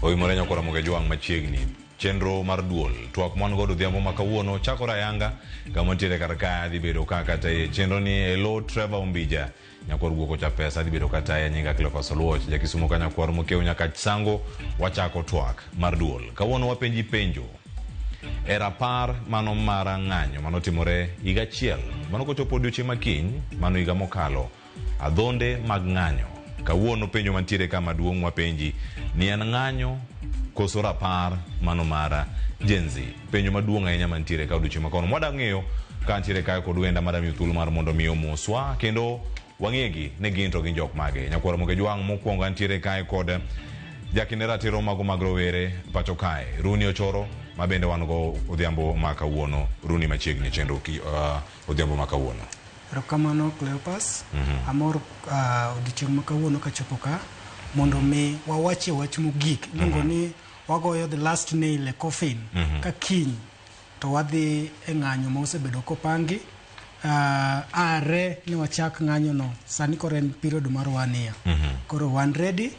Oyimore nyakora Mogeji wang' machiegni chenro mar duol twak mwan godo odhiambo ma kawuono chakore ayanga kama nitiere kar ka dhi bedo ka kata e chenro ni elo Trevor Ombija nyakwar guoko cha pesa dhi bedo kata e nyinga Cleophas Oluoch ja Kisumo ka nyakwar mokew nyaka sango wachako twak mar duol kawuono wapenji penjo e rapar mano mar ng'anyo manotimore higa achiel mano kochopo odiochieng' makiny mano higa mokalo Adhonde mag ng'anyo. Kawuono penjo mantiere ka maduong' wapenji ni en ng'anyo koso rapar mano mara Gen Z. Penjo maduong' ahinya mantiere ka odiochieng' makono. Mwada ng'eyo ka ntiere kae kod wenda mada miyo thuolo mar mondo mi omoswa kendo wang'egi ni gin to gin jok mage. Nyakwar Moke Jwang' mokwongo antiere kae kod jakinde ratiro mago mag rowere pacho kae Runi Ochoro ma bende wan go odhiambo ma kawuono Runi machiegni chenro ki, uh, odhiambo ma kawuono. Erokamano Cleopas. Mm -hmm. Amor uh, odiochieng' ma kawuono kachopo ka mondo mi wawachie wach mogik mhm. iluongo mm -hmm. ni wagoyo the last nail e coffin mm -hmm. ka kiny to wadhi e ng'anyo ma osebedo kopangi uh, are ni wachak ng'anyono sani koro en period mar wania mm -hmm. koro wan ready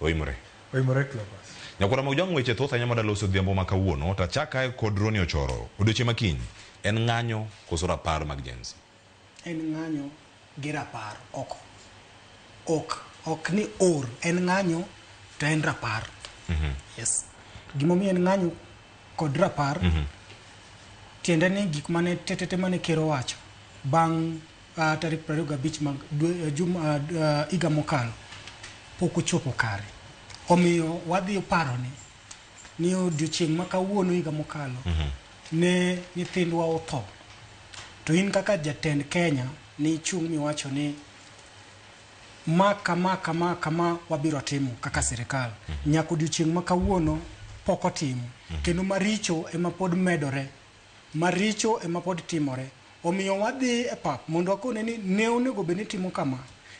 Oimore. Oimore Cleopas. Nyakwara Maujwang' weche thoth ahinya mada loso odhiambo ma kawuono to achakae kod Ronny Ochoro. Odiochieng' ma kiny en ng'anyo koso rapar mag Gen Z? En ng'anyo gi rapar ok ok ok ni or en ng'anyo to en rapar. Yes. Gimomiyo en ng'anyo kod rapar tiende ni gik mane tetete mane ker owacho bang' uh, tarik 25 mag dwe, uh, jum, uh, uh, iga mokalo pok ochopo kare omiyo wadhi paro ni ni odiochieng' ma kawuono higa mokalo mm -hmm. ne nyithindwa otho to in kaka jatend kenya ni ichung' miwacho ni ma kama kama kama wabiro timo kaka sirikal mm -hmm. nyaka odiochieng' ma kawuono pok otimo mm -hmm. kendo maricho ema pod medore Maricho e ma pod timore. Omiyo wadhi e pap mondo wakone ni ne onego bed ni itimo kama,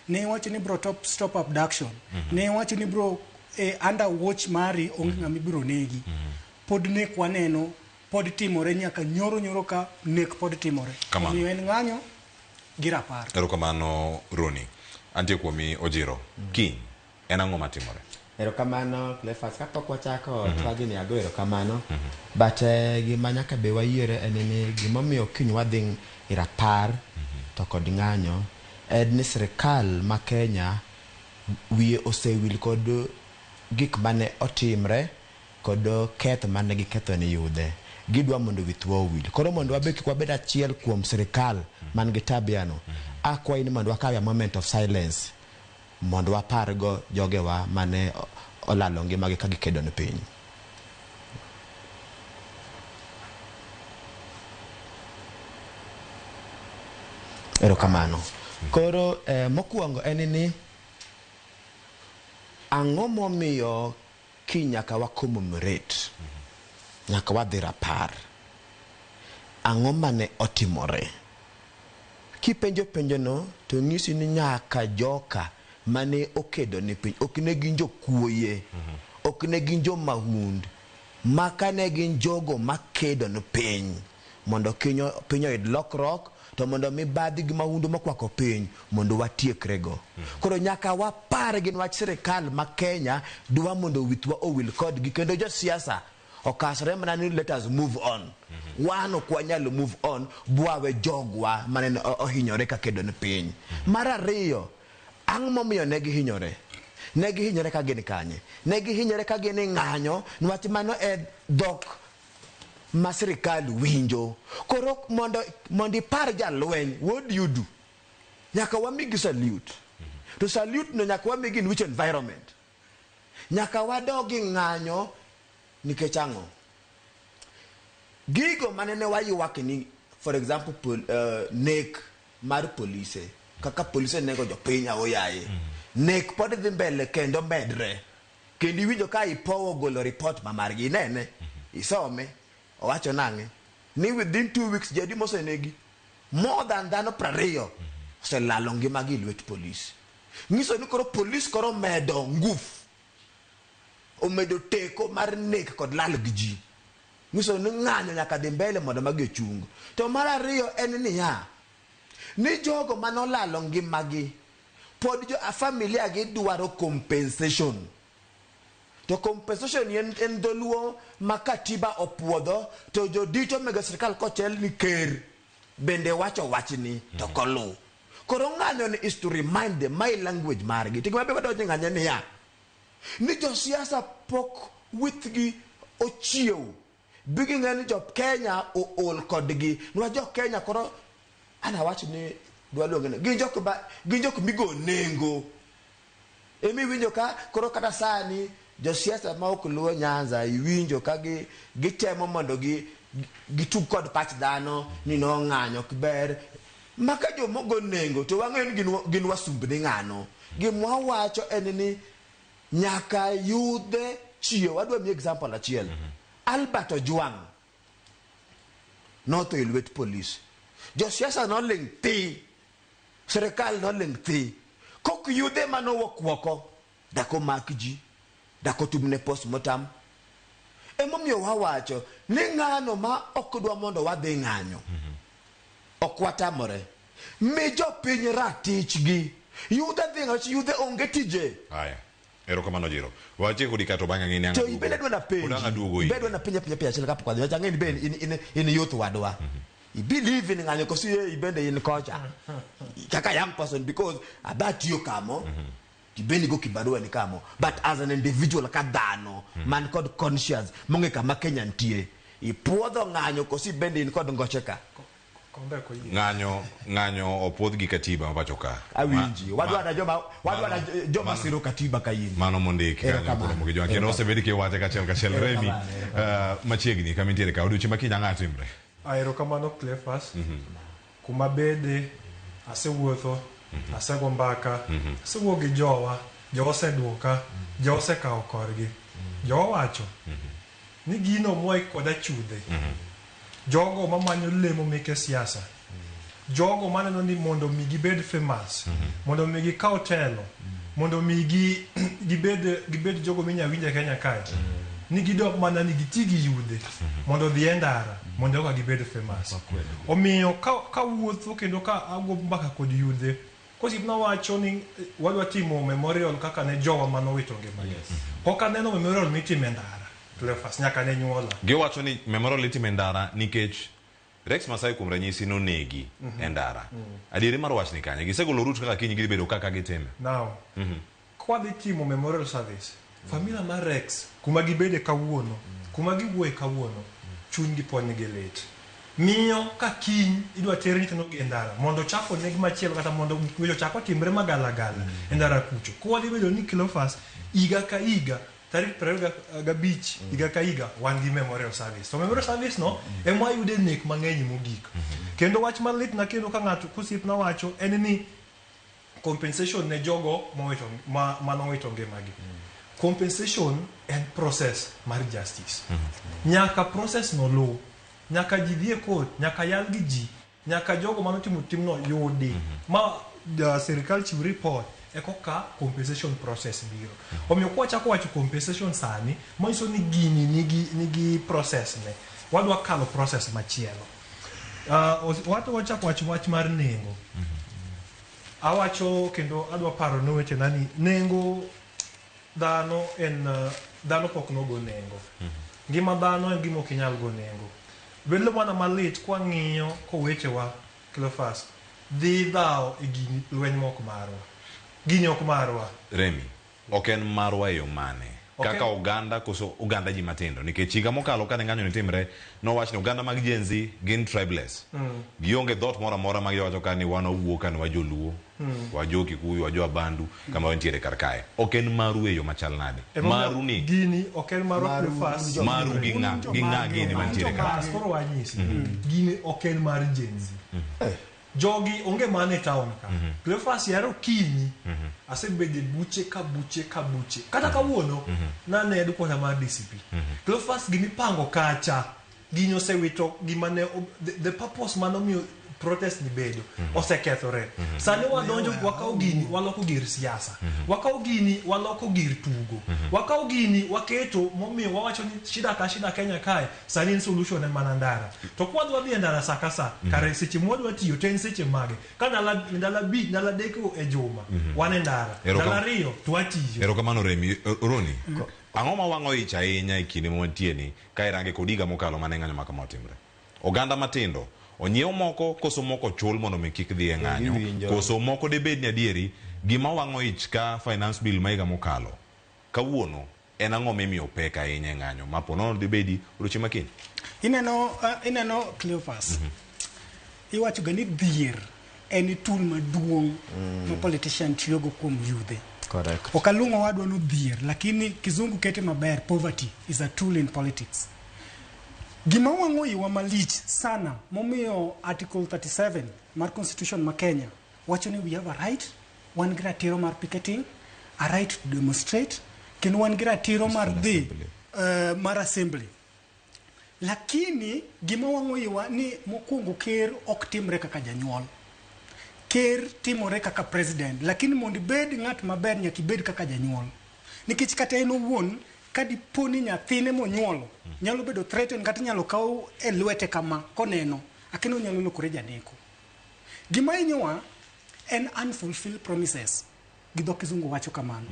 ne iwacho ni ibiro top, stop abduction, ne iwacho ni ibiro e under watch mari onge ng'ama ibiro negi. Pod nek waneno, pod timore nyaka nyoro nyoro ka nek pod timore. Kamano. Omiyo en ng'anyo gi rapar. Erokamano Ronnie. Antie kuomi Ojiro. Kiny. en ang'o matimore? Erokamano Cleophas, kapok wachako mm -hmm. twagi ni ago erokamano mm -hmm. but uh, gima nyaka be wayiere en ni gimomiyo kiny wadhi e rapar mm -hmm. to kod ng'anyo en ni sirikal ma Kenya wiye osewil kod gik mane otimre kod keth mane giketho ni yudhe gidwa mondo withwa owil koro mondo wabe kik wabed achiel kuom sirikal man gi tabiano akwayi ni mondo wakawe a moment of silence Mondo wapargo jogewa ma ne olalo ngimagi ka gikedo ne piny. Erokamano. Koro mokuongo en ni ang'o momiyo Kiny nyaka wa commemorate, nyaka wadhi rapar. Ang'o mane otimore? Kipenjo penjono to nyisi ni nyaka joka mane okedo ni piny ok ne gin jokuoye, ok ne gin jo mahund, maka ne gin jogo makedo ni piny. Mondo piny oyud lokruok to mondo mibadhi gi mahundu mokwako piny mondo watiekre go. Koro nyaka wapar gi nwach sirikal ma Kenya dwa mondo withwa owil kodgi kendo josiasa okasre mana ni let us move on. Wan ok wanyal move on bwawe jogwa manene ohinyore ka kedo ni piny. Mar ariyo, ang' momiyo ne gihinyore? Ne gihinyore ka gin kanye? Ne gihinyore ka gin e ng'anyo nwach mano e dhok ma sirkal winjo. Koro mondo mondo ipar jalweny, what do you do? Nyaka wamigi salute. To salute no nyaka wamigi in which environment? Nyaka wadogi ng'anyo nikech ang'o? Gigo mane ne waywak ni for example pol, uh, nek mar polise kaka polise nego jopiny aoyaye. Nek pod dhi mbele kendo medre. Kendo iwinjo ka IPOA ogolo report ma margi. Inene, isome, owacho nang'e? Ni within two weeks ji adi mosenegi? More than dhano prariyo oselalo ngimagi e lwet police. Nyiso ni koro police koro omedo ngufu, omedo teko mar nek kod lal gi ji. Nyiso ni ng'anyo nyaka dhi mbele mondo magi ochung. To mar ariyo en niya, ni jogo mane olalo ngimagi, Pod jo a familia gi dwaro compensation. To compensation ni en dholuo ma katiba opuodho to jodito omega sirkal kochel ni ker bende wacho wachni to kolu. Koro ng'anyo ni is to remind them my language margi. To gima be wadonje ng'anye niya, ni josiasa pok withgi ochiew. bi ging'e ni jo Kenya ool kodgi. Nwa jo Kenya koro an awach ni dwa luonge ni gin jok ba gin jok migo nengo. Emi winjo ka koro kata sani josiasa ma ok luo Nyanza iwinjo ka gi gitemo mondo gi gitug kod pach dhano ni no ng'anyo ok ber. Maka jomogo nengo to wang'eyo ni gin gin wasumbni ng'ano. Gimwa wacho en ni Nyaka yudhe chiew. Adwa miyi example achiel. Albert Ojwang' notho e lwet polis. Josiasa noling' thi. Sirkal noling' thi. Kok yudhe ema nowuok oko. Dak omak ji. Dak otumne postmortem. Emomiyo wawacho ni ng'ano ma ok dwa mondo wadhi ng'anyo, ok watamore. Mi jopiny ratichgi. Yudhe dhi ng'achi yudhe onge tije. Haya. Erokamano jiro. Wache kodi kato bang'a ng'ini ang'o. To ibe ne dwana penji. Odanga duogo ibe. Ibe dwana penja penja penja chile kapok adhi. Wacha ng'ini be in in in youth wadwa. Mm -hmm. I believe in ng'anyo kosi ye ibende in kocha. Kaka young person because abati yo kamo. Mm -hmm. Ibende go kibarua ni kamo. But as an individual ka dhano mm -hmm. man kod conscious monge kama Kenya ntie. Ipuodho ng'anyo kosi bende in kod ngocheka. ng'anyo ng'anyo opuodh gi katiba mapacho ka awinji wadwa na joma wadwa na joma siro katiba kayini mano mondiki kanyo kuno mogi joma kendo osebedi ki wache ka chel ka chel remi eh, machiegni kama intiere ka odiochieng' ma kinya ng'ato imre aero kamano clefas mhm. kuma bede asewuotho mhm. asego mbaka mhm. asewuo gi jowa jowa oseduoka jowa osekawo korgi jowa wacho Ni gino moik kod achudhe. Jogo mamanyo lemo meke siasa. Jogo maneno ni mondo mi gibed famous. Mondo mi gikaw telo. Mondo mi gi, gibed, gibed jogo minya winje Kenya kae. Ni gidok mana ni giti gi yudhe. Mondo odhi e ndara. Mondo eka gibed famous. Omiyo ka, ka awuotho kendo ka ago mbaka kod yudhe. Kosip na wacho ni wadwa timo memorial kaka ne jowa mane owito ngimagi. Yes. Pok aneno memorial mitimo e ndara, Cleophas, nyaka ne nyuola. Gi owacho ni memorial itimo e ndara nikech Rex Masai kuom ranyisi nonegi e ndara. Adieri mar wachni kanye? Gisegolo route kaka kiny gidhi bedo ka ka gitime? Now, Kwadhi timo memorial service, familia mar Rex kuma gibede kawuono, kuma giwuoye kawuono, chuny gi pod nigi lit. Miyo ka kiny idwa ter nyithindo gi e ndara mondo ochak oneg machielo kata mondo gik maricho ochak otimre ma gala gala e ndara kucho. Koro wadhi bedo ni Cleophas higa ka higa tarik piero ariyo gabich higa ka higa wan gi memorial service. To memorial service no ema wayude nek mang'eny mogik. Kendo wach malitna kendo ka ng'ato ka osiepna wacho en ni compensation ne jogo mowito ma, ma nowito ngimagi compensation en process mar justice nyaka process no luw nyaka ji dhie court nyaka yal gi ji nyaka jogo manotimo timno yudi ma uh, sirikal chiw report ekoka compensation process biro omiyo kwachako wacho compensation sani manyiso ni gini nigi, nigi process ne wadwa kalo process machielo Uh, wat wachak wach wach mar nengo awacho kendo adwa paro ne wetena ni nengo dhano en uh, dhano pok nogo nengo ngima dhano en gima ok inyal go nengo bedo mana malit kwang'iyo kowechewa Cleophas dhi dhawo e gini lweny mok marwa gini ok marwa Remi. Ok en marwa e yo mane? Kaka oganda koso oganda ji matindo? Nikech higa mokalo kane ng'anyoni timre, nowach ni oganda mag Gen-Z gin tribeless. Gionge dhoot moro amora ma giwacho ka ni wan wawuo ka ni wa Joluo, wa Jo Kikuyu, wa Jo Abandu kama wantiere kar kae. Ok en maru e yo machal nade? Maru ni? Gini ok en marwa kuom fas. Maru gi ng'a? Gi ng'a gini mantiere kar kae? Koro wanyisi. Gini ok en mar Gen-Z. Jogi onge mana e town ka. To Efas yare okinyi. Asebedo e buche ka buche ka buche. Kata kawuono nane headquarter mar DCP. To Efas gima ipango kacha gini osewito gima ne ob- the, the purpose mane omiyo protest ni bedo osekethore. Sani wadonjo wakawo gini waloko gir siasa. Wakawo gini waloko gir tugo. Wakawo gini waketo momiyo wawacho ni shida ka shida Kenya kae Sani en solution en mana ndara. To kwa dwa dhi e ndara saa ka saa, mhm. kare seche mwa dwa tiyo to en seche mage? Ka ndala ndala bi ndala deko e juma, mhm. wan e ndara. Ndala ariyo to atiyo. Erokamano Remi, e, Roni. Mm. Ang'o ma wang'o ich ahinya e kinde mwantie ni ka irange kod higa mokalo mane ng'anyo ma kama otimre? Oganda matindo onyiew moko koso moko chul mondo mi kik dhi e ng'anyo koso moko debed ni adieri gima wang'o ich ka finance bill ma higa mokalo Kawuono en ang'o mimiyo opek ahinya e ng'anyo ma po nono dhi bedi odiechieng' ma kiny? Ineno, uh, ineno Cleophas, mm -hmm. iwachoga ni dhier en tool maduong' mm. ma politician tiyogo kuom yudhe. Correct. Ok aluongo wadwa no dhier, lakini kizungu kete maber, poverty is a tool in politics. Gima wang'o iwa malich sana momiyo Article 37 mar Constitution ma Kenya wacho ni we have a right, wan gi ratiro mar picketing, a right to demonstrate, kendo wan gi ratiro mar Peaceful dhi assembly. eh, mar assembly. Lakini gima wang'o iwa ni mokwongo ker ok timre kaka janyuol. Ker timore kaka president, lakini mondo ibed ng'at maber nyaka ibed kaka janyuol. Nikech kata en owuon ka dipo ni nyathine monyuolo nyalo bedo threatened kata inyalo kaw e lwete kama koneno, akeno onyalo lokore janeko. Gima hinyowa en unfulfilled promises gi dho kizungu wacho kamano.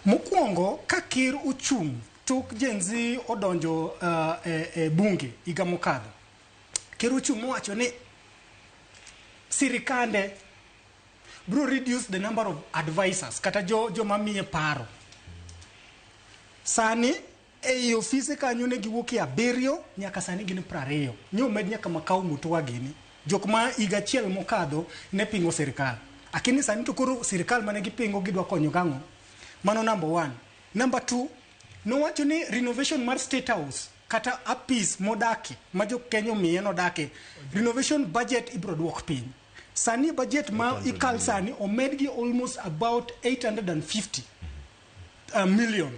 Mokwongo ka ker ochung' tok Gen Z odonjo uh, e, e bunge higa mokadho, ker ochung' mowacho ni sirikande bro reduce the number of advisors kata jo joma miye paro sani Ei ofise kanyo ne giwuokie abiriyo nyaka sani gin prariyo. Nyo omed nyaka Makau Mutua gini. Jok ma higa achiel mokadho ne pingo sirkal. Akini sani to koro sirkal mane gipingo gidwa konyo gang'o? Mano number one. Number two, nowacho ni renovation mar State House kata apis modake ma jo Kenya omiye nodake, renovation budget ibro duok piny. Sani budget ma ikal sani omed gi almost about 850 uh, million.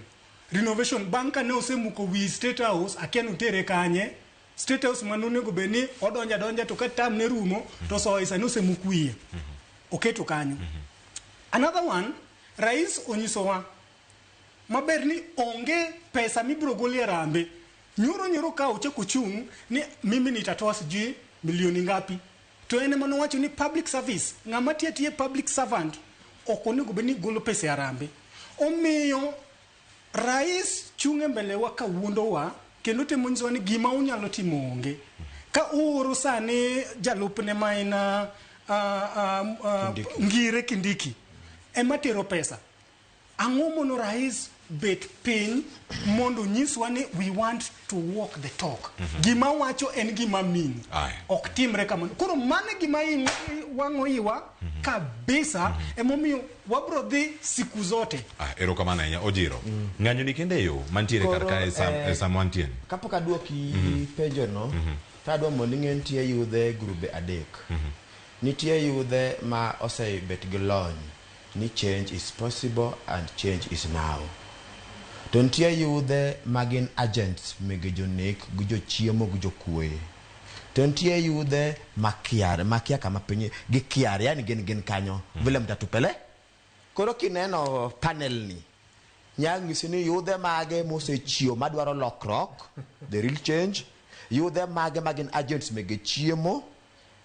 Renovation bang' ka ne osemuko wi State House, akia ni otere kanye. State House ma nonego bed ni odonjo adonja to ka term ne rumo to osoye, sani osemuk wiye. Oketo kanyo. Another one, Rais onyisowa maber ni onge pesa mibiro gol e harambee. Nyoro nyoro ka ochako ochung' ni mimi nitatoa sijui milioni ngapi. To en ema nowacho ni public service, ng'ama tiyo atiya public servant ok onego bed ni golo pesa e harambe. Omiyo rais chung' e mbele wa ka wuondowa kendo temo nyisowa ni gima unyalo timo onge. Ka uoro sani jalupne ma en uh, uh, uh, Kindiki. Ngire Kindiki ema tero pesa. Ang'o mono rais bet piny mondo nyiswa ni we want to walk the talk. Mm -hmm. Gima wacho en gima mini. Ok timre kamano. Koro mano e gima in wang'o iwa mm -hmm. kabisa mm -hmm. emomiyo wabro dhi siku zote. Ah, ero kamano ahinya ojiro. Mm. Ng'anyo ni kende yo mantiere kar kae sam, eh, sam wantien. Kapok aduoki mm -hmm. penjo no, mm -hmm. tadwa mondo ing'e nitie yudhe grube adek. Mm -hmm. Nitie yudhe ma osebet gi lony. ni change is possible and change is now. To nitie yudhe ma gin agents mege jonek gi jochiemo gi jokuoye. To nitie yudhe ma kiar, ma kia kama piny gi kiar, yani gin gin kanyo vile mtatupele. Koro kineno panel ni, nya ng'isi ni yudhe mage mosechiew madwaro lokrok, the real change, yudhe mage ma gin agents mege chiemo,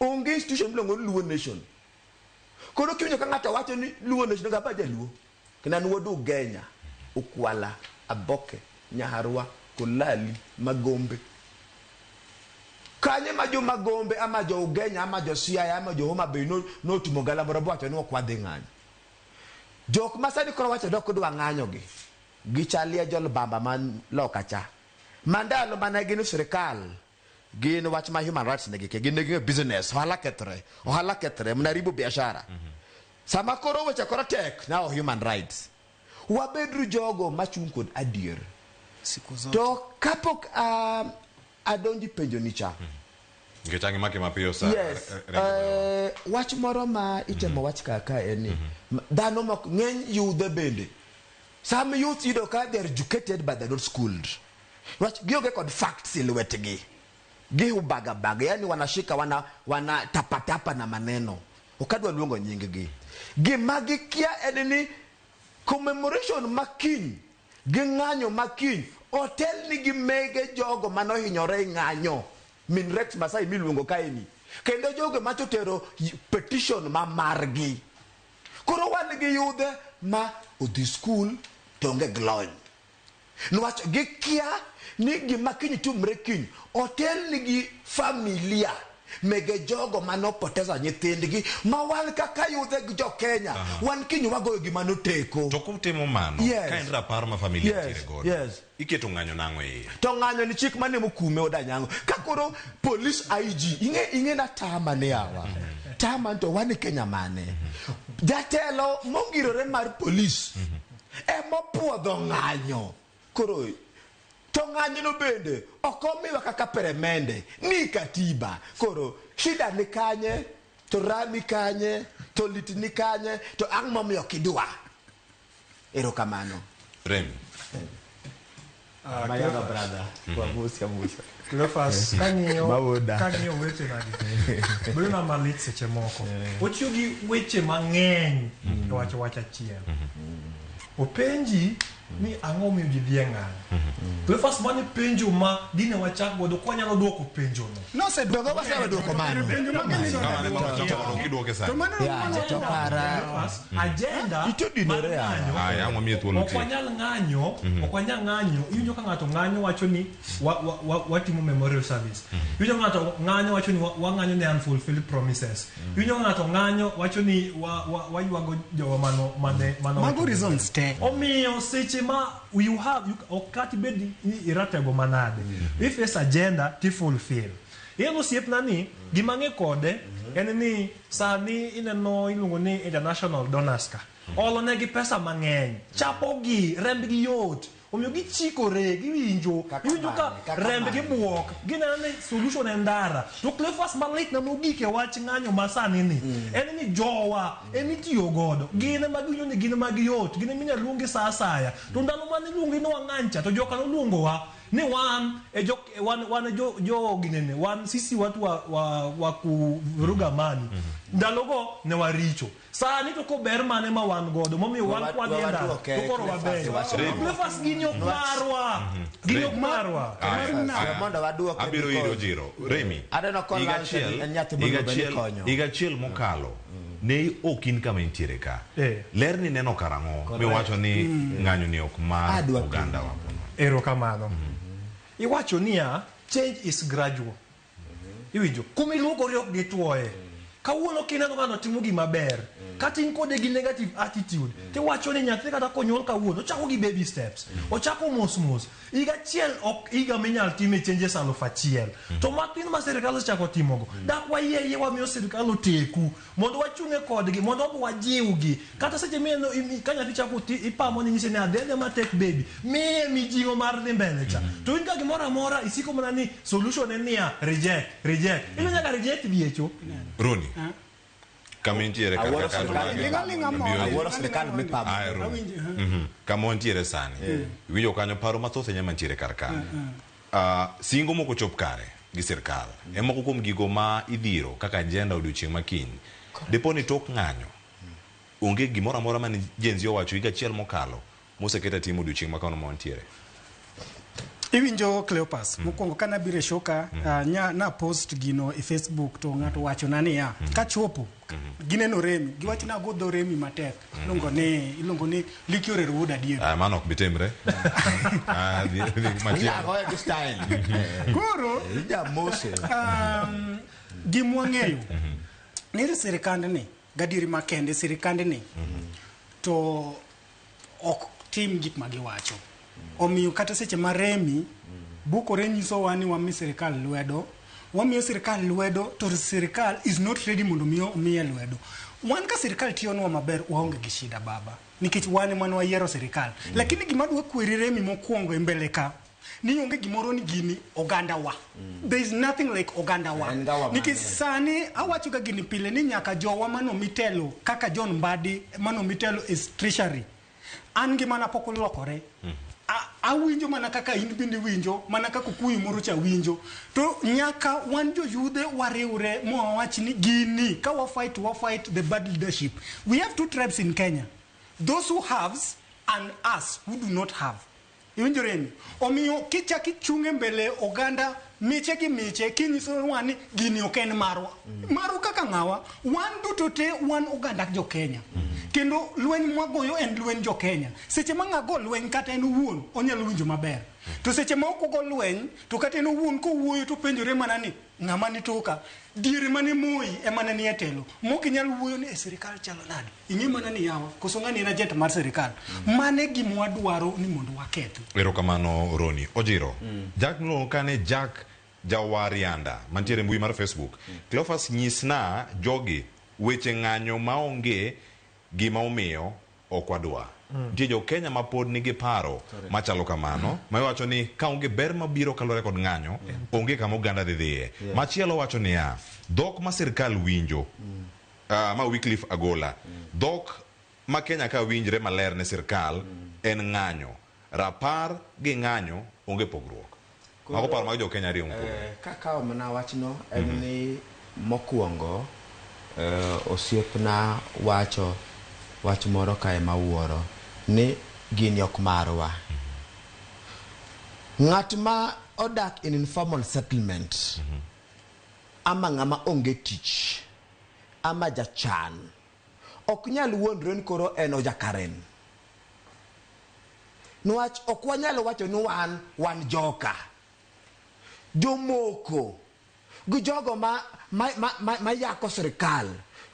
Onge institution miluongo ni Luo Nation. Koro kiwinjo ka ng'ato wacho ni Luo Nation, onego aba jaluo. Kendo an wuod Ugenya, Ukwala, Aboke, Nyaharwa, Kolali, Magombe. Kanyo ema jo Magombe ama jo Ugenya ama jo Siaya ama jo Homa Bay no- notimo galamoro bowacho ni ok wadhi ng'anyo. Jok ma sani koro wacho ni ok dwa ng'anyogi, gichalie jolbamba man loka cha. Mandalo mane gin sirikal gin wach ma human rights ne gike gin ne ging'e business ohala kethre ohala kethre mnaribu biashara sama koro weche koro tek now human rights wabedru jogo machung' kod adier siku zote to kapok um, adonji penjo nicha Nikech ang'e make mapiyo sa. yes re- re- eh, wach moro ma itemo wach kaka en ni m- dhano mok ng'eny yudhe bende some youth yudo ka they are educated but they're not schooled Rach gionge kod facts e lwetgi. Gihubaga baga, yani wanashika wana wana tapatapa na maneno. Okadwa luongo nyinggi. Gima gikia en ni commemoration ma kiny gi ng'anyo ma kiny otelni gi mege jogo manohinyore e ng'anyo min Rex Masai miluongo kaeni kendo jogo macha otero petition ma margi. Koro wan gi yudhe ma odhi skul to onge glony. Nwach gikia ni gima kiny tumre kiny otelnigi familia mege jogo mane opoteza nyithindgi ma wan kaka yudhe gi jo Kenya wan kiny wagoyo gima noteko. To kutimo mano Yes. ka en rapar ma familia Yes, nitiere godo yes. iketo ng'anyo nang'o e iye? To ng'anyo ni chik mane mokume odanyango. Ka koro police IG ing'e ing'e na tama ne awa. Tama to wan e Kenya mane. Jatelo mongirore mar police Ema opuodho ng'anyo. Koro to ng'anyono bende ok omiwa kaka peremende ni katiba. Koro shida ni kanye? To raha ni kanye? To lit ni kanye? To ang' momiyo ok idwa? Erokamano. Remi. Ah, My younger brother. Kwa Musi ya Musi. Cleophas, kang'iyo Mawoda. kang'iyo weche nagi bedo na malit seche moko otiyo gi weche mang'eny e wacho wach achiel openji ni ang'o miyo ji dhi e ng'anyo Cleophas mani penjo ma dine wachak godo kwanyalo dwoko penjono Nosedwogo wasewe dwoko mano. okwanyal ng'anyo mhm. okwanyal ng'anyo iwinjo ka ng'ato ng'anyo wacho ni watimo memorial service mhm. iwinjo ng'ato ng'anyo wacho ni wang'anyo ne unfulfilled promises mhm. iwinjo ng'ato ng'anyo wacho ni waywago jowa mano mane mago reasons te omiyo seche ma you have you, ok kata ibed ni iratego manade mm-hmm. if it's agenda to fulfill ineno osiepna ni gima ng'e kode mm-hmm. en ni sani ineno iluongo ni international donors ka mm-hmm. olonegi pesa mang'eny chapogi rembgi yot omiyo gichikore giwinjo iwinjo ka remb gi buok gineno ni solution en ndara to clefas malit na mogik e wach ng'anyo masani ni mm. en ni jowa emitiyo godo gin ema giwinjo ni gin ema giyot gin ema inyalo luongi sa asaya to ndalo mane iluongi ni wang'any cha to joka noluongowa ni wan e jo wan wan e jo jo ginene wan sisi watu wa, wa, wa kuvuruga amani ndalogo ne waricho sani to kober mane ma wan godo momiyo wan Wa- kwadhi e wa- ndalo watuoke, to koro kile wabeyo fasi wacho ni- Cleophas gini ok marwa gini ok marwa Aya, Marina. aya. Mondo waduoke Abiro because- iro jiro. Remi. Aneno ka higa Lance achiel- en nyathi higa moluongo ni achiel- konyo. higa achiel mokalo Ne ok in kama intiere ka. Eh. Ler ni neno karang'o miwacho ni ng'anyo ni ok mar Adwa piny. oganda wa. Erokamano. Iwacho niya, change is gradual. Iwinjo? Kuma iluokori ok gitwoye. Kawuono kineno ng'ano timo gima ber, kata in kode gi negative attitude, tiwacho ni nyathi kata konyuol kawuono, ochako gi baby steps. Ochako mos mos. Higa achiel ok higa minyal time changes aluf achiel to mak in ma sirkal osechako timogo dak wayie ayie wamiyo sirkal oteku mondo wachung'e kodgi mondo wabe wajiwgi kata seche mineno imi- ka nyathi chako ti ipamo ni nyise ni adhedhe matek baby miye mijing'o mar dhi mbele cha to in ka gimoro amora isiko mana ni solution en niya reject reject ilo nyaka reject diecho Roni, kama intiere kar Awuoro kaka sirkal. andwagi Ling'a ling'a moro. abiro- Awuoro sirkal mipamo. Ah, ero. Awinjo. Mhm. kama wantiere sani winjo kanyo paro mathoth enya mantiere kar ka Ah, singo moko chop kare gi sirkal e moko kuom gigo ma idhiro kaka ajenda odiochieng' makiny dipo ni tok ng'anyo onge gimoro amora mane jenzi owacho higa achiel mokalo Moseket atim odiochieng' makano ma wantiere. Iwinjo Cleopas, mm. mokwongo ka nabiro e shoka mm. uh, nya, na post gino e Facebook to ng'ato mm. wacho na niya mm. kachopo mm. Mm-hmm. gineno remi giwacho na go dho remi matek mm. iluongo ni iluongo ni liki orero wuod adier ah, mano ok bitimre ah, koro um, gimwang'eyo mm-hmm. nire sirikand ni Gadieri makende, sirkandni to ok tim gik ma giwacho. Omiyo kata seche ma remi bukore nyisowa ni wami sirkal lwedo, wamiyo sirkal lwedo to sirkal is not ready mondo mi omiye lwedo. Wan ka sirkal tiyonwa maber waonge gi shida baba nikech wan ema ne wayiero sirkal. Lakini gima adwa kweri remi mokwongo e mbele ka ni onge gimoro ni gini oganda wa mm. there is nothing like oganda wa nikech sani awacho ga gini pile ni nyaka jowa mano mitelo kaka John Mbadi mano mitelo is treasury an gi mana pok olokore mm. awinjo mana kaka in bende winjo mana kaka kuyu moro cha winjo to nyaka wan joyudhe wariwre mwawach ni gini ka wafight wafight the bad leadership we have two tribes in kenya those who haves and us who do not have Iwinjo rem. Omiyo kichak ichung' e mbele oganda miche gi miche kinyiso wa ni gini ok en marwa. Marwa kaka ng'awa, wan duto te wan oganda jo Kenya. Kendo lweny mwagoyo en lweny jo Kenya. Seche ma ng'a go lweny kata en owuon onyalo winjo maber. To seche ma ok ogo lweny to kata en owuon kowuoyo topenjore mana ni ng'ama ni toka. Diere mane Moi emane ni e telo. Mok inyal wuoyo ni e sirikal chalo nade. ing'e mana ni yawa koso ng'ani en agent mar sirikal mane gima wadwaro ni mondo wakethi erokamano roni ojiro jack miluongo kane jack jawarianda mantiere e mbui mar facebook cleofas nyisna jogi weche ng'anyo maonge gima omiyo ok wadwa nitie jo kenya ma pod nigi paro machalo kamano ma wacho ni ka onge ber mabiro kaluwore kod ng'anyo onge kama oganda dhi dhiye machielo wacho niya dhok ma sirkal winjo Uh, ma Wycliffe Agola. Mm. Dhok ma Kenya ka winjre maler ne sirkal mm. en ng'anyo. Rapar gi ng'anyo onge pogruok. Mago paro mag jo Kenya ariyo mkuu. Eh, kakawo mana wachno en mm -hmm. ni mokwongo eh, osiepna wacho wach moro kae ma wuoro ni gini ok marwa. Mm -hmm. Ng'at ma odak in informal settlement mm -hmm. ama ng'ama onge tich ama jachan ok nyal wuondre ni koro en ojakaren nwach ok wanyalo wacho ni wan wan joka jomoko gi jogo ma, ma, ma, ma, ma yako sirikal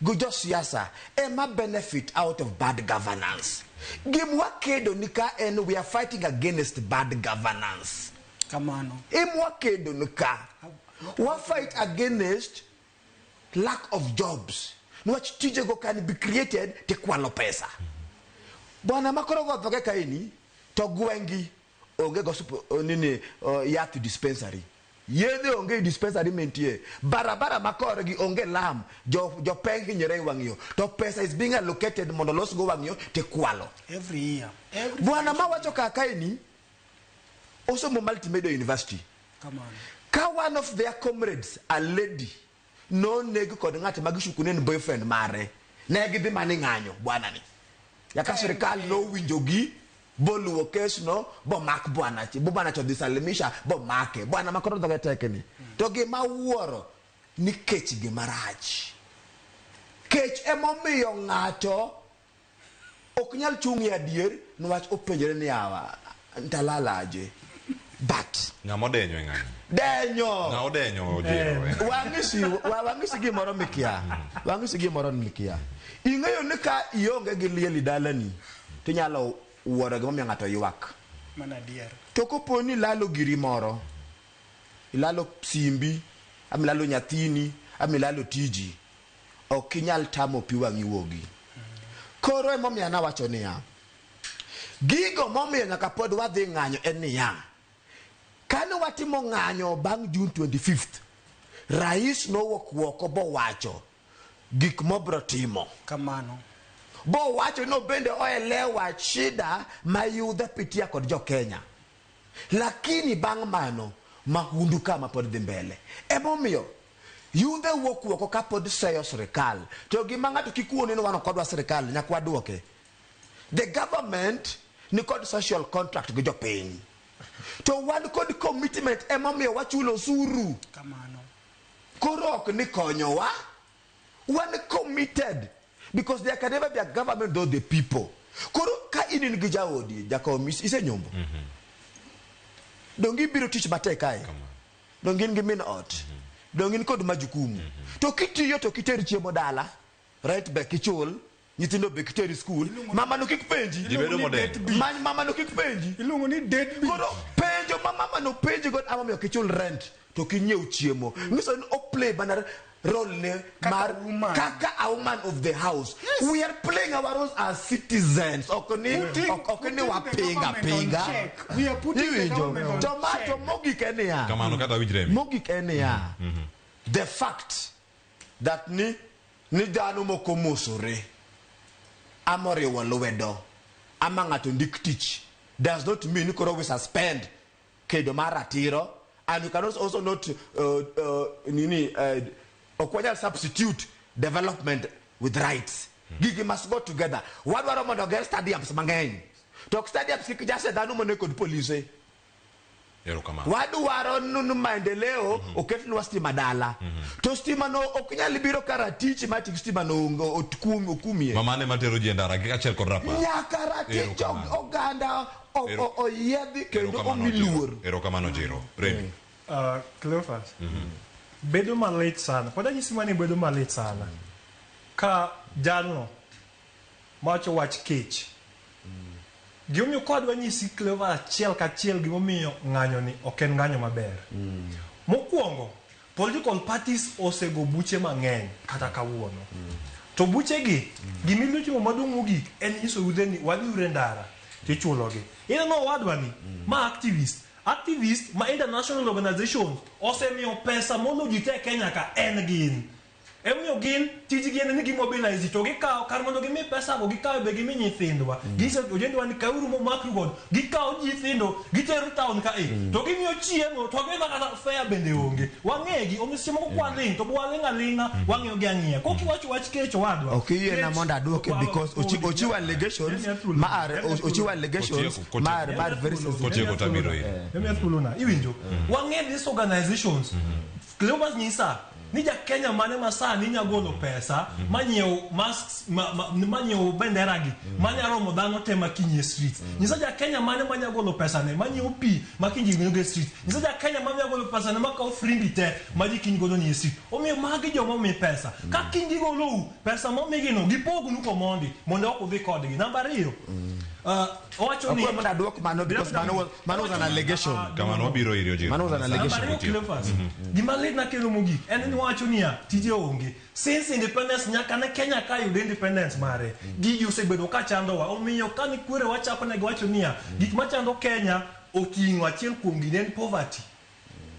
gi josiasa ema benefit out of bad governance gim wakedo ni ka en we are fighting against bad governance kamano im wakedo ni ka wa fight against lack of jobs niwach tijego can be created tikwalo pesa bwana makoro gothoge kaeni to gwengi onge go nini uh, yath dispensary yedhe onge dispensary mentie barabara makorgi onge lam jopeng jo hinyore e wang'yo to pesa is being allocated mondo losgo wang'yo tikwalo bwana mawacho kakaeni osomo multimedia university ka one of their comrades a lady noneg kod ng'at ma gisukune en boyfriend mare ne gidhi mana e ng'anyo bwana ni yaka sirikal nowinjogi boluwo kesno bomak bwana chi bo bwana chodhi salimisha bomake bwana ma koro dhoge tek ni to gima wuoro ni kech gima rach kech emomiyo ng'ato ok nyal chung' e adier niwach openjore ni awa ndalalaje but ng'ama odenyo e ng'ani denyo ng'a odenyo ojero eh. wang'isi wang'isi gimoro mikia wang'isi gimoro mikia ing'eyo ni ka ionge gi liel dalani tinyalo wuoro gimomiyo ng'ato ywak mana adier to kopo ni ilalo giri moro ilalo simbi ama ilalo nyathini ama ilalo tiji ok inyal tamo pi wang'i wuogi. Koro emomiyo an awacho niya, gigo momiyo nyaka pod wadhi ng'anyo en niya, kane watimo ng'anyo bang' June 25th, Rais nowuok woko bowacho gik mobro timo. Kamano. Bowacho ni obende oelewa shida ma yudha pitia kod jo Kenya. Lakini bang' mano, mahundu kama pod dhi mbele. Emomiyo. Yundhe wuok wuoko ka pod seyo sirikal. To gima ng'ato kik wuo ni wan ok wadwa sirikal, nyaka waduoke. The government ni kod social contract gi jopiny. To wan kod commitment emomiyo wachulo osuru. Kamano. Koro ok ni konyowa. Wan committed because there can never be a government without the people. Koro ka in in gi jaodi, jakom, isenyombo. Mm -hmm. Donge ibiro tich matek kae? Kamano. Donge in gi min ot? Donge in kod majukumu? To kitiyo to kiter chiemo dala, rent be kichul, nyithindo be kiter e skul, mamano kik penji. Ji bedo modek. Many mamano kik penji. Iluongo ni deadbeat. Koro penjo ma mamano penji godo, ang'o momiyo ok ichul rent to ok inyiew chiemo? Nyiso ni o play mana role ne Kaka mar woman. kaka a woman of the house Yes. we are playing our roles as citizens ok ni Putting- ok- ok ni putting the wapinga government on pinga check. We are putting the Iwinjo? government on to ma check. to mogik en niya kamano kata winj remi mogik en niya the fact that ni ni dhano moko mosore ama oriwo lwedo ama ng'ato ndik tich does not mean ni koro we suspend kedo mar ratiro and you can also, also not uh, uh, nini uh, ok wanyal substitute development with rights gigi must go together wadwaro mondo oger stadiums mang'eny to ok stadiums kik jase dhano mone kod polise Erokamano. wadwaro nunu maendeleo oketnwa stima dala to stima no ok nyal biro ka ratich ma tik stima no onge- ot- kum- okumie Mamane matero ji e ndara gi achiel kod rapar. nyaka ratich Erokamano. oganda o- Ero- o- oyiedhi kendo Erokamano omi Jiro. luor Erokamano Jiro. Remi. Uh, Cleophas, bedo malit sana pod anyisi mani bedo malit sana ka jalno mawacho wach kech gimomiyo kodwa nyisi Cleophas achiel kachiel gimomiyo ng'anyoni ok en ng'anyo maber mokwongo Political parties osego buche mang'eny kata kawuono. To buchegi, gima inyalo timo maduong' mogik en nyiso yudhe ni wadhiuru e ndara to ichulogi. Ineno owadwani, ma activist. Activist ma international organizations osemiyo pesa moloyo ji te e Kenya ka en gin. Emomiyo gin tijgi en ni gimobilize ji to gikawo kar mondo gimi pesago gikawo be gimi nyithindwa. Giso ojendewa ni kauru momakru godo. Gikawo nyithindo gitero town ka e to gimiyo chiemo to gima kata fare bende onge. Wang'egi omiyo seche moko kwaling' to be waling' aling'a wang'iyogi ang'iya. Kok iwacho wach kech owadwa. Ok iyiena mondo adwoke because ochi- ochiwo allegations ma are o- ochiwo allegations Kotieko, kotieko. ma are ma are very sensitive. Kotieko to abiro iri. Let me ask you, Luna, iwinjo? Wang'e these organizations Cleopas nyisa ni ja Kenya mane ma sani nya golo pesa manyiew masks ma- ma- manyiew bendera gi manya romo dhano te ma kinyie street nyisa ja Kenya mane manya golo pesa ne manyiew pi ma kinji gino ge street nyisa ja Kenya manya golo pesa ne makawo frimbi te ma ji kiny godo ni street omiyo magi joma mi pesa ka kinji golou pesa momigi no gipognu komondi mondo ok udhi kodgi namba ariyo ah, Owacho ni- Akwai muna duok mano because mano was, mano was an allegation. Kamano wabiro iri ojira. Mano was an Namba allegation. ariyo Cleophas, gima lit nakelo mogik en ni wacho niya tije onge since independence nyaka ne kenya ka yudo independence mare gigi osebedo ka chandowa omiyo ka ni kwere wachako ne giwacho niya gik machando kenya oting'o achiel kuom gine en poverty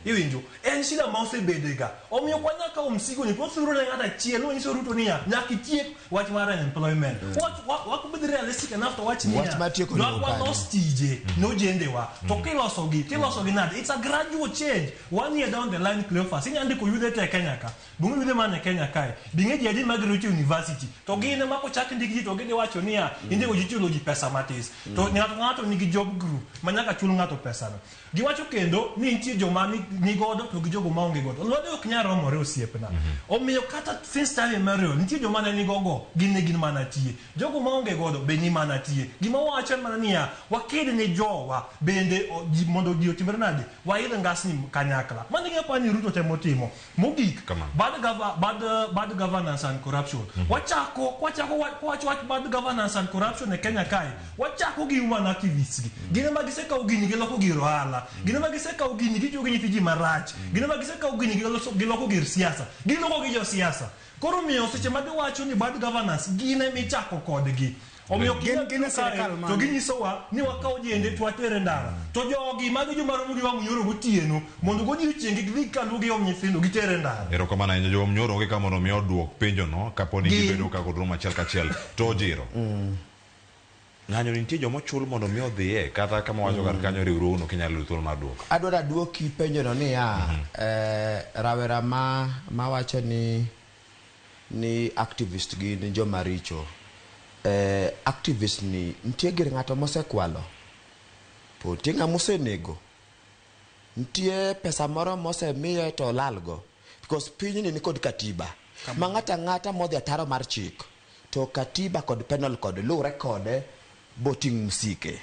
Iwinjo? En shida ma osebedega. Omiyo ok wanyal kawo msigoni to wathuro ne ng'ato achiel. Nonyiso Ruto niya, nyaka itiek wach mar unemployment. Wach- wa- wako be realistic enough to wach niya, Wach mar tieko nyaka onego kanye? walos tije nojendewa. To kilosogi, tilosogi nade? It's a gradual change. One year down the line, Cleophas, inya ndiko yudhe te e Kenya ka. Bunge yudhe man e Kenya kae. Binge ji adi ma gero to university. To gin ema kochak ndik ji to gidhi wacho niya, indiko ji chulo ji pesa matis. To ng'ato ng'ato nigi job group ma nyaka chul ng'ato pesano. Giwacho kendo ni nitie joma nigodo to gi jogo ma onge godo. Lwedo ok nyal romore osiepna. Omiyo kata since time immemorial nitie joma ne nigogo gin ne gin mana tie. Jogo ma onge godo be ni mana tie. Gima wawacho en mana niya, waked ni jowa bende mondo ji otimre nade, waidh ngasni kanyakla. Mano e gima aparo ni Ruto temo timo. Mogik, bad gava, bad, bad governance and corruption. Mm -hmm. Wachako, wachako, wach, wach bad governance and corruption e Kenya kae. Wachako gi human activists gi. Mm -hmm. Gine ma gisekawo gini giloko gir ohala. Mm -hmm. Gine ma gisekawo gini gitiyo gi nyithi ji marach. Mm -hmm. Gine ma gisekawo gini giloko gir siasa. Giloko gi jo siasa. Koro miyo seche ma giwacho ni bad governance gine michako kodgi. omiyo ok Gin- gin e sirkal mane? to ginyisowa ni wakaw ojende to water e ndara to jogi mago joma romo gi wang' nyoro gotieno mondo godiochieng' gidhi kalu gi om nyithindo gitere e ndara erokamano ahinya jowam nyoro onge ka mondo mi odwok penjono kapo ni Gi- gibedo ka kodrum achiel kachiel to ojiro ng'anyo ni nitie joma ochul mondo mi odhiye kata kama wacho kar kanyo riwruogno kinyalo yudo thuolo mar dwoko adwaro aduoki penjono niya eh, rawera ma mawacho ni ni activist gin joma richo. Eh, activist ni nitie gir ng'ato mosekwalo? To nitie ng'ama osenego? Nitie pesa moro mosemiye to olalgo? Because pinyni nikod katiba ma ng'ato ang'ata modhi ataro mar chik to katiba kod penal code luwre kode boting' msike.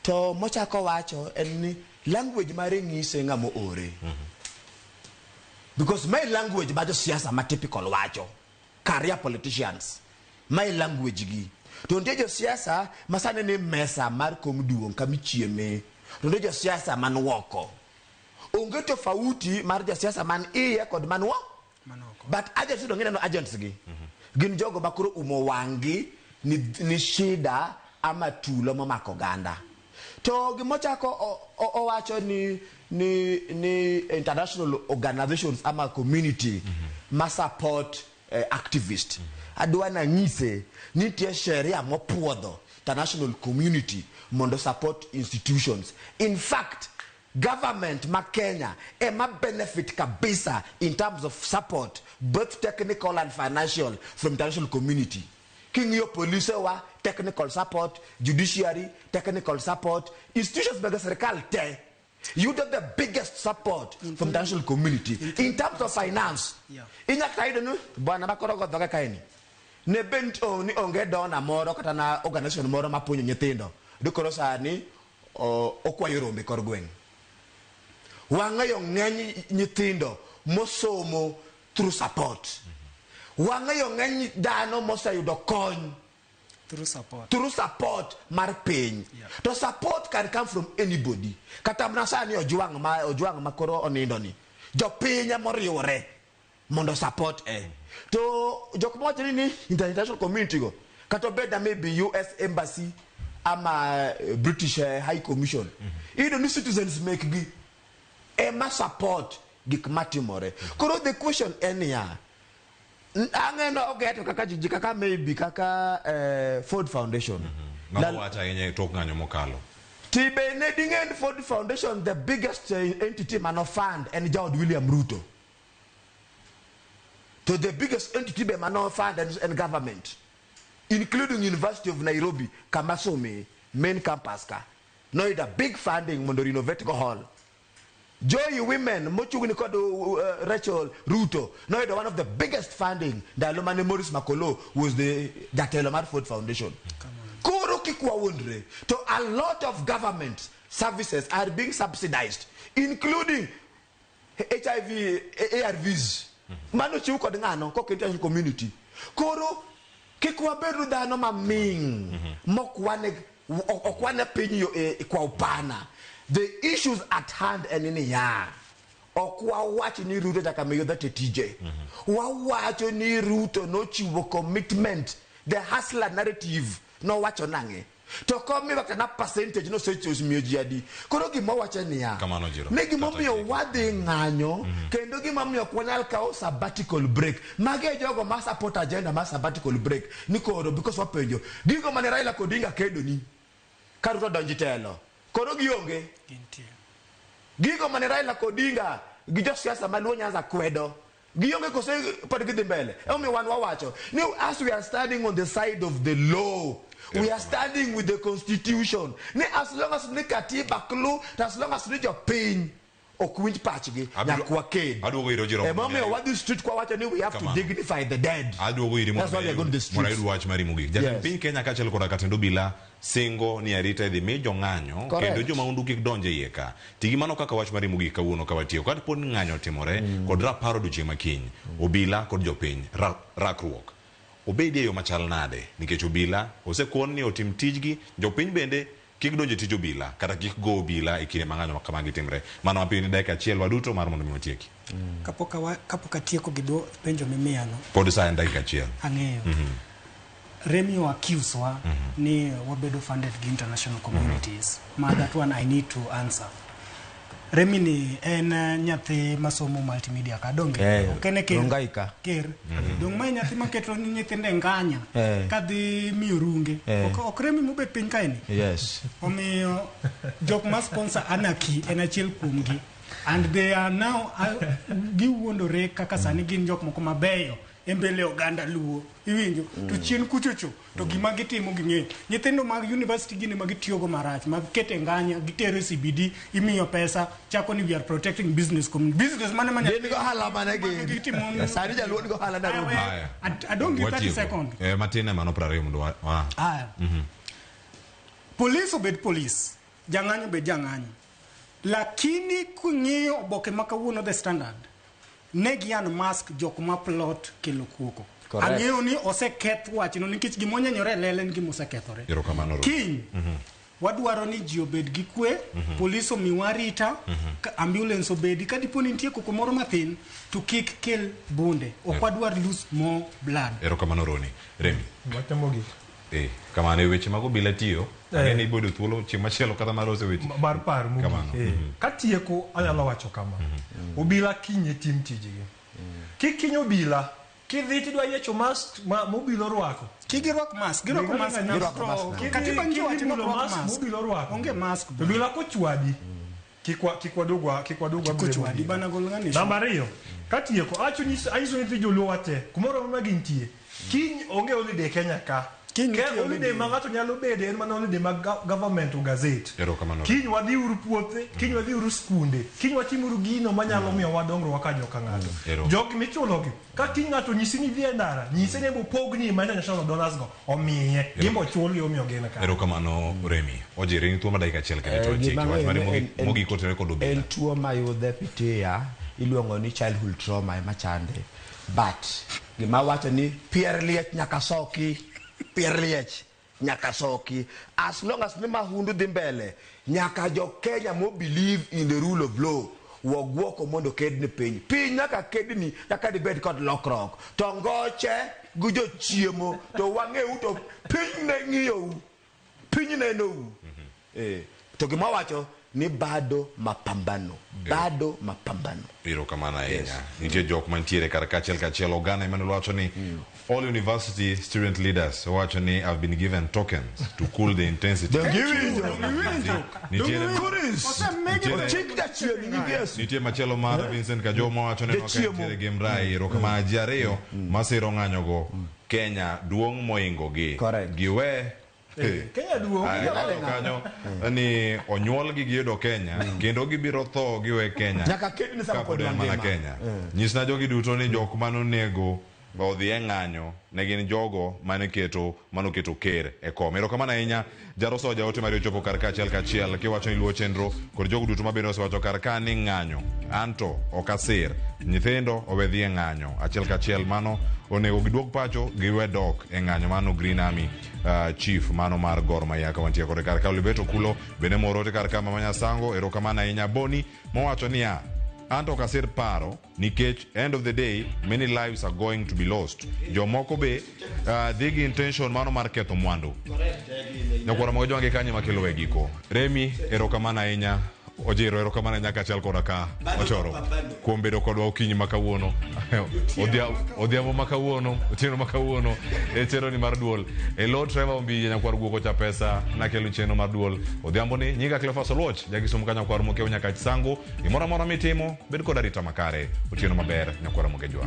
To mochako wacho en ni language mare nyise ng'ama oore. Because my language ma josiasa ma typical wacho, career politicians, my language gi. To nitie josiasa ma sani ni mesa mar kom duong' kama ichieme. To nitie josiasa man woko. Onge tofauti mar jasiasa man iye kod man woko. But agents yudo ng'ineno agents gi. Gin jogo ma koro umo wang'gi ni, ni shida ama tulo momako oganda. To gima ochako owacho ni ni ni international organizations ama community mm -hmm. ma support eh, activist mm -hmm. adwa nang'ise ni nitie sheria mopuodho international community mondo support institutions in fact government ma Kenya ema benefit kabisa in terms of support both technical and financial from international community King'iyo polise wa, technical support, judiciary, technical support, institutions mag sirkal te yudo the biggest support in from the national community in, in terms of finance. Yeah. Inya kata yudo ni bwana makoro go dhoga kaeni. Ne bent oh, ni onge dona moro kata na organization moro mapunyo nyithindo. Dikoro sani oh, okwayo rombe kor gweng'. Wang'eyo ng'eny nyithindo mosomo through support wang'eyo ng'eny dhano moseyudo kony through support through support mar piny yeah. to support can come from anybody kata mana sani ojwang' ma ojwang' ma koro onindo ni jopiny ema oriwore mondo support e eh. to jok mowacho ni ni international community go kata obed na maybe us embassy ama eh, british eh, high commission mm -hmm. iyudo ni citizens mekgi ema support gik matimore. Koro the question en niya, ang'eno ogeto kaka jiji kaka maybe kaka eh, Ford Foundation. Mago Lal- wach ahinya e tok ng'anyo mokalo. Tibe ne ding'en Ford Foundation the biggest eh, entity mano fund en jaod William Ruto. To the biggest entity be mano fund en, en government including University of Nairobi kama some main campus ka. Noyudo a big funding mondo renovate go hall. Joy Women mochungni kod uh, Rachel Ruto noyudo one of the biggest funding ndalo mane Morris Makolo was the jatelo mar Ford Foundation. Koro kik wawuondre to a lot of government services are being subsidized including hiv arvs mano chiw kod ng'ano kok international community koro kik wabedu dhano maming mokwane ok- okwane piny yo- e- e- kwa upana the issues at hand en niya ok wawach ni ruto nyaka miyo dhate tije wawacho ni ruto nochiwo commitment the hustler narrative nowacho nang'e to ok omiwa kata na percentage nosechos miyo ji adi koro gima wache niya Kamano, Jiro. ni gimomiyo Kata- wadhi ng'anyo kendo gimomiyo ok wanyal kawo sabbatical break mage e jogo ma support agenda mar sabbatical break ni koro because wapenjo gigo mane raila kod odinga kedoni ka ruto donji telo koro gionge Gintie. gigo mane raila kod odinga gi josiasa maluo nyanza kwedo Gionge kose pod gidhi mbele. Emomiyo wan wawacho ni as we are standing on the side of the law we are standing with the constitution ni as long as ni katiba klu to as long as ni jopiny ok winj pachgi Abiro- nyaka waked aduogo iro Jerome emomiyo Munyai. wadhi street kwa wacho ni we have to Kamano. dignify the dead aduogo iri That's why we are going to the mondo streets. ayud wach mari mogik jatend Yes. piny kenya kaachiel koda katend obila Singo ni arita idhi mi jong'anyo Correct. kendo jo maundu kik donj e iye ka. Ti gi mano kaka wach mar riembo gik kawuono ka watiyo ka dipo ni ng'anyo otimore kod rapar odiechieng' ma kiny. Obila kod jopiny, ra, rakruok obedi e yo machal nade? Nikech obila osekon ni otim tijgi, jopiny bende kik donj e tij obila kata kik go obila e kinde ma ng'anyo ma kamagi timre. Mana mapiyo ni dakika achiel waduto mar mondo mi watieki. mm. kapok awa, kapok atieko gi dwo penjo mimiya no pod sa en dakika achiel ang'eyo mm -hmm. Remy o accuse wa mm -hmm. ni wabedo funded gi international communities mm -hmm. ma that one I need to answer Remy ni en eh, nyathi masomo multimedia ka donge hey, eh, okene ker dongai ka ker mm -hmm. dong mai nyathi maketo ni nyithinde nganya hey. Eh. kadhi miyo runge hey. ok, ok Remy mobet piny kaeni yes omiyo jok ma sponsor anaki en achiel kuomgi and they are now uh, giwuondore kaka sani gin jok moko mabeyo e mbele oganda luo iwinjo to mm. chien kuchocho to mm. gima gitimo ging'eyo nyithindo mag university gini ma gitiyogo marach mag kete nganya gitere cbd imiyo pesa chako ni we are protecting business community business mane manya gin go hala mane gin sani jaluo go hala na robi i don't give 30 second eh matin emano 20 mondo wa ah mhm. police obed police jang'anyo obed jang'anyo Lakini king'iyo oboke ma kawuono The Standard, ne gi unmask jok ma plot kelo kuoko. Correct. Ang'eyo ni oseketh wachno nikech gima onyenyore e lela en gima osekethore. Erokamano Ruto. Kiny, wadwaro ni ji obed gi kwe, polis omiwa arita, ka- ambulance obedi, ka dipo ni nitie koko moro mathin, to kik kel bunde. Ok wadwar lose more blood. Erokamano Roni. Remi. Wach mogik. Eh, kamano e weche mag obila tiyo. Eh. Ang'e ni ibodo thuolo chieng' machielo kata mar ose weche. mar par mogik. Kamano. Eh, Mhm. Katieko anyalo wacho kama. Obila kinye tim tijgi. Kikinyi obila kidhi tidwa yiecho mask ma mobila orwako. Kigi rwak mask, girwako Gima mask, nang'anyo girwako mask. mask. Kidhi- Katiba nyiso kidhi wacho ni mulo rwak mask, mask. mobila orwako. Onge mask. Obila kochwadi Kik wa- kik wadog wa- kik wadog wabiro Koch wadi bana gol ng'ani. Namba ariyo, katieko, acho nyis- anyiso nyithi joluo wate, kumoro amora ma gintie, kiny onge holiday Kenya ka. Kiny Ke- nitie holiday holiday. ma ng'ato nyalo bede en mana holiday mag ga- government o gazette. Erokamano. Kiny wadhi uru puothe, kiny wadhi uru skunde, kiny watim uru gino manyalo miyo wadongruok ka joka ng'ato. Ero. Jogi michulogi, ka kiny ng'ato nyisi ni idhi e ndara, nyise ni opogni ma international dollars go. omiye gimbo chul yo miyo gin ka erokamano remi ojiri ni tuo ma dakika achiel kende to eh, chiki wach mane mogi kotene kod obila en tuo ma yudhe pitia iluongo ni childhood trauma ema chande but gima wacho ni pier liech nyaka soki pier liech nyaka soki as long as ni mahundu dhi mbele Nyaka jo Kenya mo believe in the rule of law waguoko mondo ked ni piny. Piny nyaka ked ni kaka dibed kod lokrok. To ngoche gi jo chiemo to wang'eu to piny ne ng'iyou. Piny ne nou. Mm -hmm. Eh, to gima wacho ni bado mapambano bado mapambano. Ero kamana ahinya. Yes. Nitie jok mantiere kar kachiel kachiel oganda Emmanuel wacho ni mm. All university student leaders wacho ni have been given tokens to cool the intensity. Donge iwinjo? Nitiere nitie machielo mar Vincent Kajoma wacho ni nokentiere gi mrai ero kama ji ariyo masiro ng'anyogo Kenya duong' moingogi. Correct. Giwe Kenya duong' Ng'ado kanyo ni onyuol gi giyudo Kenya kendo gibiro tho giwe Kenya Nyaka ked ni sama kapod pod en mana mangima. Kenya. Nyisna jogi duto ni jok mane onego odhi e ng'anyo ne gin jogo mane keto mane oketo ker e kom. Erokamano ahinya Jaroso jaote mari ochopo kar ka achiel kachiel kiwacho ni luwo chenro kod jogo duto mabende osewacho kar ka ni ng'anyo anto ok asir nyithindo owe dhi e ng'anyo achiel kachiel mano onego giduog pacho giwe dok e ng'anyo mano Green Army uh, chief mano mar gor maya ka wantie kode kar ka olibeto kulo bende morote kar ka mama nyasango erokamano ahinya boni mowacho niya anto ok asir paro nikech end of the day many lives are going to be lost jomoko be uh, dhi gi intention mano mar ketho mwandu nyakwara mago jwange kanye makelo e giko remi erokamano ahinya Ojiro, erokamano nyaka chal koda ka ochoro kuom bedo kodwa okinyi ma kawuono odhiambo ma kawuono otieno ma kawuono e chenroni mar duol e lo treva ombiye nyakwar guoko cha pesa nakelo chenro mar duol odhiambo ni nyinga clefas oluoch jakisomo ka nyakwar mokewo nyaka chisango gimoro amora mitimo bed kod arita makare otieno maber nyakwar mokejwa